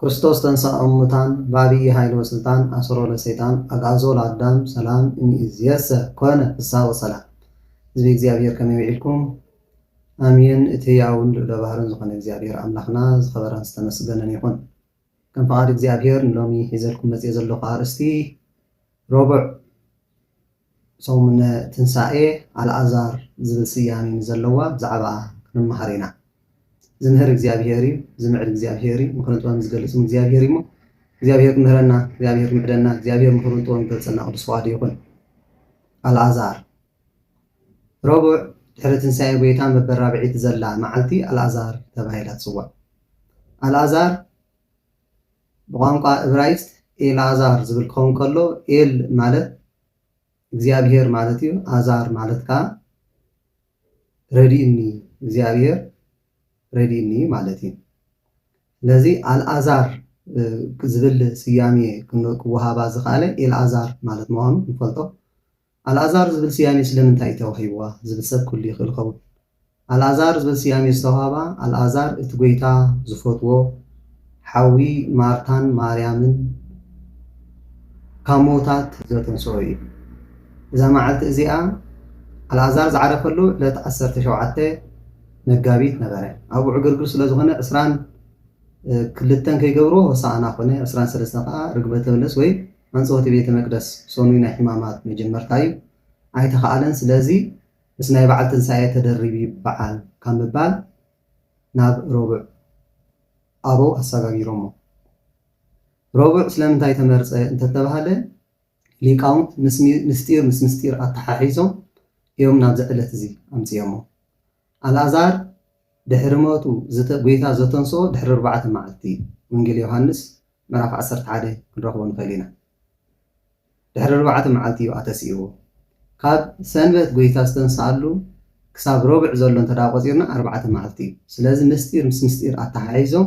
ክርስቶስ ተንሥኣ እሙታን በዐቢይ ኃይል ወሥልጣን አሰሮ ለሰይጣን አግአዞ ለአዳም ሰላም እምይእዜሰ ኮነ ፍሥሓ ወሰላም ሕዝቢ እግዚኣብሔር ከመይ ውዒልኩም አሜን እቲ ሕያውን ልዑለ ባህርን ዝኾነ እግዚኣብሔር ኣምላኽና ዝኸበረን ዝተመስገነን ይኹን ከም ፍቃድ እግዚኣብሔር ንሎሚ ሒዘልኩም መጺኤ ዘለኹ አርእስቲ ረቡዕ ሰሙነ ትንሳኤ ኣልኣዛር ዝብል ስያሜ ንዘለዋ ብዛዕባኣ ክንመሃር ኢና። ዝምህር እግዚኣብሄር እዩ፣ ዝምዕድ እግዚኣብሄር እዩ፣ ምኽርን ጥበብን ዝገልጽ እውን እግዚኣብሄር እዩሞ እግዚኣብሄር ክምህረና፣ እግዚኣብሄር ክምዕደና፣ እግዚኣብሄር ምኽሩን ጥበቡን ክገልጸልና ቅዱስ ፍቓዱ ይኹን። ኣልኣዛር ረቡዕ ድሕሪ ትንሳኤ ጎይታ በበራብዒት ዘላ መዓልቲ ኣልኣዛር ተባሂላ ትጽዋዕ። ኣልኣዛር ብቋንቋ እብራይስጥ ኤልኣዛር ዝብል ክኸውን ከሎ ኤል ማለት እግዚኣብሄር ማለት እዩ፣ ኣዛር ማለት ከኣ ረድእኒ እግዚኣብሄር ረድእኒ ማለት እዩ። ስለዚ ኣልኣዛር ዝብል ስያሜ ክወሃባ ዝኸኣለ ኤልኣዛር ማለት ምዃኑ ንፈልጦ። ኣልኣዛር ዝብል ስያሜ ስለምንታይ እዩ ተዋሂብዋ ዝብል ሰብ ክህሉ ይኽእል ይኸውን። ኣልኣዛር ዝብል ስያሜ ዝተዋህባ ኣልኣዛር እቲ ጐይታ ዝፈትዎ ሓዊ ማርታን ማርያምን ካብ ምዉታት ዘተንስኦ እዩ። እዛ መዓልቲ እዚኣ ኣልኣዛር ዝዓረፈሉ ዕለት ዓሰርተ ሸውዓተ መጋቢት ነበረ። ኣብኡ ዕግርግር ስለ ዝኾነ ዕስራን ክልተን ከይገብርዎ ሆሳእና ኮነ፣ ዕስራን ሰለስተን ከኣ ርግበተ በለስ ወይ ኣንጸወቲ ቤተ መቅደስ ሰኑይ ናይ ሕማማት መጀመርታ እዩ ኣይተኻኣለን ስለዚ ምስ ናይ ባዓል ትንሳኤ ተደሪቡ ይባዓል ካብ ምባል ናብ ረቡዕ ኣበው ኣሳጋጊሮሞ ረቡዕ ስለምንታይ ተመርጸ እንተተባህለ ሊቃውንት ምስ ምስጢር ምስ ምስጢር ኣታሓሒዞም እዮም ናብዚ ዕለት እዚ ኣምጺኦሞ ኣልኣዛር ድሕሪ ሞቱ ዝተ ጎይታ ዘተንስኦ ድሕሪ ኣርባዕተ መዓልቲ እዩ። ወንጌል ዮሃንስ ምዕራፍ ዓሰርተ ሓደ ክንረኽቦ ንኽእል ኢና። ድሕሪ ኣርባዕተ መዓልቲ እዩ ኣተስእዎ። ካብ ሰንበት ጎይታ ዝተንስኣሉ ክሳብ ረቡዕ ዘሎ እንተ ቆጺርና ኣርባዕተ መዓልቲ እዩ። ስለዚ ምስጢር ምስ ምስጢር ኣተሓሒዞም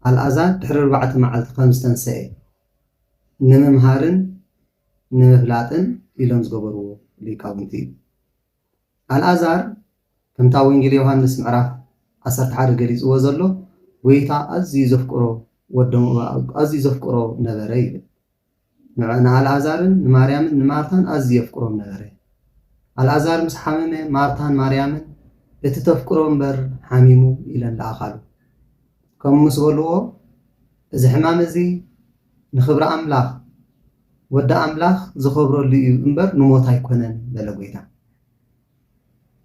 ኣልኣዛር ድሕሪ ኣርባዕተ መዓልቲ ከም ዝተንሰኤ ንምምሃርን ንምፍላጥን ኢሎም ዝገበርዎ ሊቃውንቲ እዩ። ኣልኣዛር ከምታ ወንጌል ዮሃንስ ምዕራፍ ዓሰርተ ሓደ ገሊጽዎ ዘሎ ጎይታ ኣዝዩ ዘፍቅሮ ወዶም ኣዝዩ ዘፍቅሮ ነበረ ይብል። ንኣልኣዛርን ንማርያምን ንማርታን ኣዝዩ የፍቅሮም ነበረ። ኣልኣዛር ምስ ሓመመ ማርታን ማርያምን እቲ ተፍቅሮ እምበር ሓሚሙ ኢለን ለኣኻሉ። ከምኡ ምስ በልዎ እዚ ሕማም እዚ ንኽብሪ ኣምላኽ ወዲ ኣምላኽ ዝኸብረሉ እዩ እምበር ንሞት ኣይኮነን በለ ጎይታ።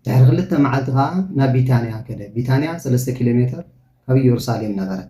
ድሕሪ ክልተ መዓልቲ ከኣ ናብ ቢታንያ ከደ። ቢታንያ ሰለስተ ኪሎ ሜተር ካብ ኢየሩሳሌም ነበረት።